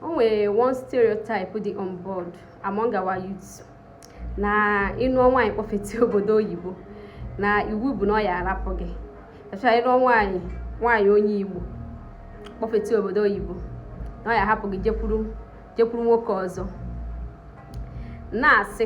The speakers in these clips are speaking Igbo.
o nwere one stereotype dị on board among our youths na ị nụọ nwaanyị kpọfete obodo oyibo na iwu bụ na ọ ya arapụ gị echa ị nụọ nwaanyị nwaanyị onye igbo kpọfete obodo oyibo na ọ ya hapụ gị jekwuru nwoke ọzọ na-asị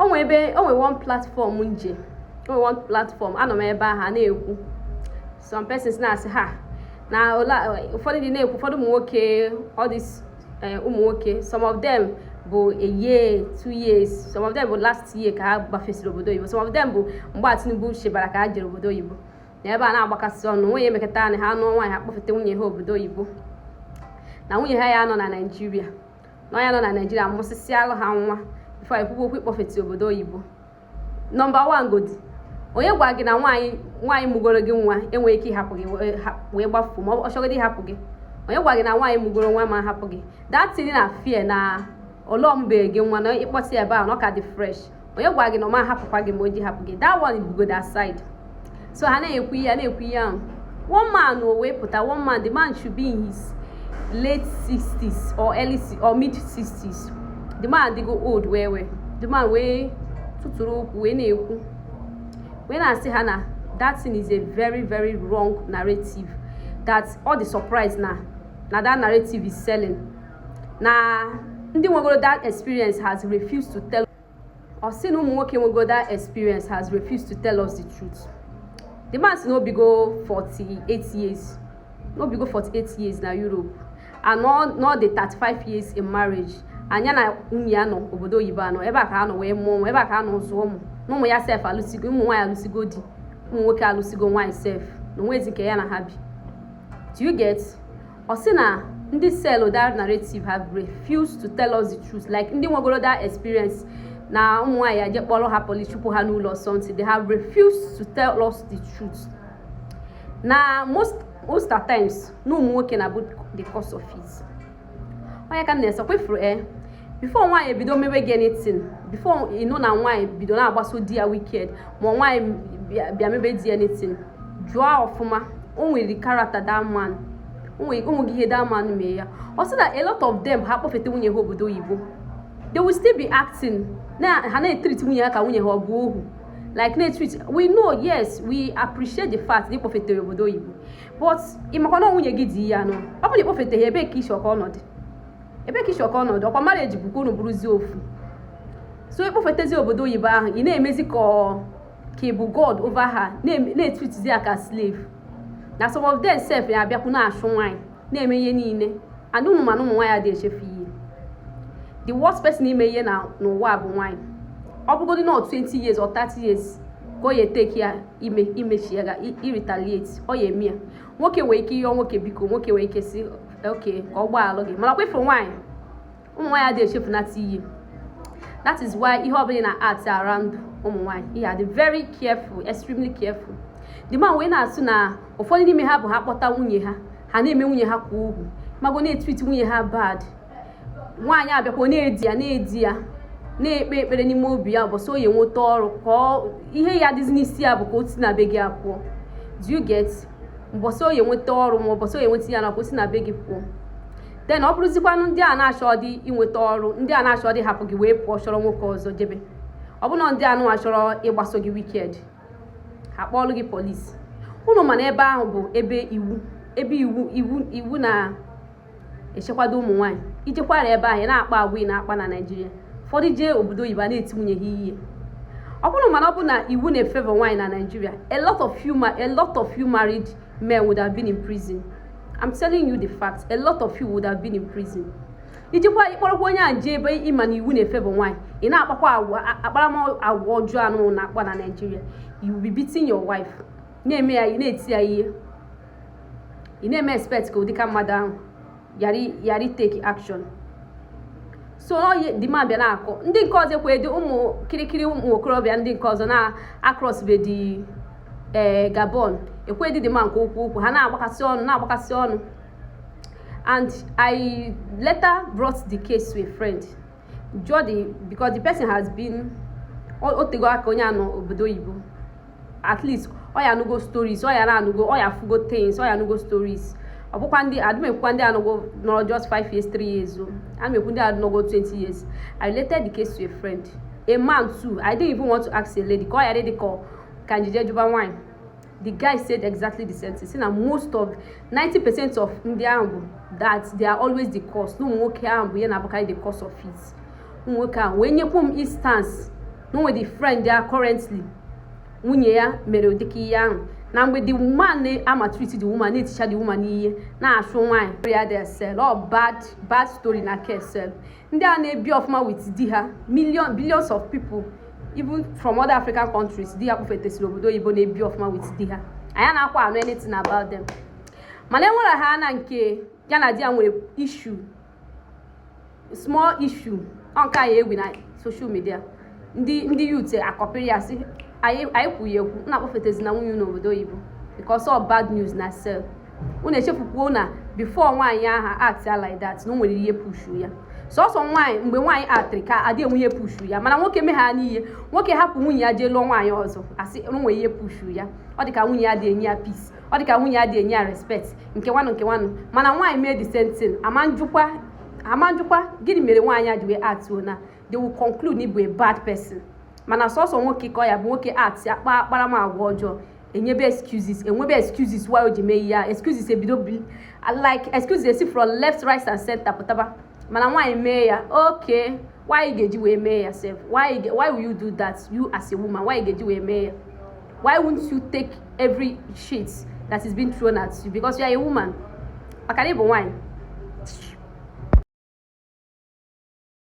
o nwe ebe o nwe one platform m je o nwe one platform anọ m ebe ha na-ekwu some persons na-asị ha na ụfọdụ ndị na-ekwu ụfọdụ ụmụ nwoke all these eh, ụmụ nwoke some of them bụ a year two years some of them bụ last year ka ha gbafesịrị obodo oyibo some of them bụ mgbe a Tinubu chịbara ka ha jere obodo oyibo na ebe a na-agbakasị ọnụ nwunye emekọta na ha nụọ nwaanyị ha kpọfeta nwunye ha obodo oyibo na nwunye ha ya nọ na naijiria na ọ ya nọ na naijiria mụsịsịalụ ha nwa before e kwuo okwu ịkpọfete obodo oyibo number one godi onye gwa gị na nwaanyị mụgoro gị nwa enweghị ike ịhapụ gị wee gbafuo ma ọ chọgodi ịhapụ gị onye gwa gị na nwaanyị mụgoro nwa ma hapụ gị that thing na fear na ọ mụbeghị gị nwa na ị kpọta ya ebe ahụ na ọ ka dị fresh onye gwa gị na ọ ma hapụkwa gị ma o ji hapụ gị that one godi aside so ha na-ekwu ihe a na-ekwu ihe ahụ one man o wee pụta one man the man should be in his late 60s or early or mid 60s the man dịgo old wee wee the man wee tụtụrụ okwu wee na-ekwu wee na-asị ha na that thing is a very very wrong narrative that ọ dị surprise na na that narrative is selling na ndị nwegoro that experience has refused to tell ọ sị na ụmụ nwoke nwegoro that experience has refused to tell us the truth the man sị na o bigo 48 years na o bigo 48 years na Europe and na ọ dị 35 years in marriage na ya na nwunye ya nọ obodo oyibo na ọ ebe a ka ha nọ wee mụọ ụmụ ebe a ka ha nọ zụọ ụmụ na ụmụ ya sef alụsigo ụmụ nwaanyị alụsigo di ụmụ nwoke alụsigo nwaanyị sef na o nwezi nke ya na ha bi do you get ọ sị na ndị sell that narrative have refused to tell us the truth like ndị nwegoro that experience na ụmụ nwaanyị ha je kpọrọ ha police chụpụ ha n'ụlọ or something they have refused to tell us the truth na most at times na ụmụ nwoke na-abụ the cause of it onye ka m na-ese kwefuru e eh? before nwaanyị ebido mewe gị anything before ị nụ na nwaanyị bido na-akpaso di ya wicked ma nwaanyị bịa mebe di ya anything jụọ ọfụma o nwere character that man o nwere ihe that man mee ya ọ sị na a lot of them ha kpọfeta nwunye ha obodo oyibo they will still be acting na ha na-etreat nwunye ha ka nwunye ha ọ bụ ohu like na-etreat we know yes we appreciate the fact na ị kpọfetere obodo oyibo but ị makwa na nwunye gị di ya nọ ọ bụrụ na ị kpọfeteghị ebee ka isi ọka ọnọdụ ebe ka ị chọ ka ọ nọdụ ọkwa marriage bụkwa unu bụrụzie ofu so ị kpọfetezi obodo oyibo ahụ ị na-emezi ka ka ị bụ god over her na-etreatzi ya ka slave na some of them sef ya abịakwu na-achụ nwaanyị na-eme ihe niile and ụmụ mana ụmụ nwaanyị adịghị echefu ihe the worst person ime ihe n'ụwa bụ nwaanyị ọ bụgodị na 20 years or 30 years ka ọ ya eteki ya ime imechi ya ga iretaliate ọ ya eme ya nwoke nwee ike ịyọ nwoke biko nwoke nwee ike sị okay ka ọ gbaalụ gị manakwa ị fụrụ nwaanyị ụmụ nwaanyị adịghị echefunata ihe that is why ihe ọbụla ị na-act around ụmụ nwaanyị ị ya adị very careful extremely careful the man wee na-asị na ụfọdụ n'ime ha bụ ha kpọta nwunye ha ha na-eme nwunye ha kwa ugwu mago na-etreat nwunye ha bad nwaanyị abịakwa na-edi ya na-edi ya na-ekpe ekpere n'ime obi ya bụ so ya nweta ọrụ ka ihe ya dịzi n'isi ya bụ ka o si na be gị apụọ do you get mbọsị ọ ya-enweta ọrụ ma ụbọchị ọ ya-enweta ya na ka o si na be gị pụọ then ọ bụrụzikwanụ ndị a na-achọ dị inweta ọrụ ndị a na-achọ dị hapụ gị wee pụọ chọrọ nwoke ọzọ jebe ọ bụ na ndị anụ achọrọ ịgbaso gị wicked ha kpọọlụ gị polisi unu ma na ebe ahụ bụ ebe iwu ebe iwu iwu iwu na echekwado ụmụ nwaanyị i jekwara ebe ahụ na-akpa agwa ị na-akpa na naijiria ụfọdụ jee obodo oyibo a na-eti nwunye ha ihe ọ bụrụ mana ọ bụ na iwu na-efavor nwaanyị na naijiria a lot of you ma- a lot of you married men would have been in prison i'm telling you the fact a lot of you would have been in prison i jikwa ị kpọrọkwa onye a jee ebe ị ma na iwu na-efavor nwaanyị ị na-akpakwa agwa a- akparamagwa ọjọọ anụ na-akpa na naijiria you will be beating your wife na-eme ya ị na-eti ya ihe ị na-eme expect ka ụdịka mmadụ ahụ ghara itake action so the man bịa na-akọ ndị nke ọzọ ekwedị ụmụ kirikiri ụmụ okorobịa ndị nke ọzọ na-acrossbedị ee eh, gabon ekwedị the man kwuo okwu ha na-agbakasị ọnụ na-agbakasị ọnụ and i later brought the case to a friend jụọdị because the person has been o tego aka onye a nọ obodo oyibo at least ọ ya anụgo stories ọ ya na-anụgo ọ ya afụgo things ọ ya anụgo stories ọ bụkwa ndị adụ m ekwukwa ndị anọgo nọrọ just 5 years 3 years o adụ m ekwu ndị anọgo 20 years i related the case to a friend a man too i didn't even want to ask a lady ka ọ ya dị ka ka m ji je jụba nwaanyị the guy said exactly the same thing sị na most of 90 percent of ndị ahụ bụ that they are always the cause na ụmụ nwoke ahụ bụ ihe na-abụkarị the cause of it ụmụ nwoke ahụ wee nyekwu m instance na o nwedị friend ya currently nwunye ya mere ụdịka ihe ahụ na mgbe the man na-amaltreat the woman na-eticha the woman ihe na-achụ nwaanyị ya dị several bad bad story na kesel ndị a na-ebi ọfụma with di ha billions of people even from other african countries di ha kpọfetesịrị obodo oyibo na-ebi ọfụma with di ha anyị anakwa anụ anything about them mana enwere ha na nke ya na di ya nwere issue small issue ọ nke a ya egwu na social media ndị ndị youth akọpịrị ya sị anyị anyị ekwughị ekwu na akpọfetezina nwunye n'obodo oyibo because all bad news na sel unu echefukwuo na before nwaanyị ahụ act ya like that na o nwere ihe pushu ya sọsọ nwaanyị mgbe nwaanyị actịrị ka adị enwe ihe pushu ya mana nwoke megha n'ihe nwoke hapụ nwunye ya jee lụọ nwaanyị ọzọ a sị nwere ihe pushu ya ọ dịka nwunye ya adị enye ya peace ọ dịka nwunye ya adị enye ya respect nke nwanụ nke nwanụ mana nwaanyị mee the same thing a ma ajụkwa gịnị mere nwaanyị a ji wee actuo na they will conclude na ị bụ a bad person mana sọsọ nwoke ka ọ ya-abụ nwoke act ya kpaa akparamagwa ọjọọ enyebe excuses enwebe excuses why o ji mee ihe a excuses ebido bi like excuses esi from left right and center pụtaba mana nwaanyị mee ya okay why ị ga-eji wee mee ya sef why you why will you do that you as a woman why ị ga-eji wee mee ya why won't you take every shit that is being thrown at you because you are a woman maka na ị bụ nwaanyị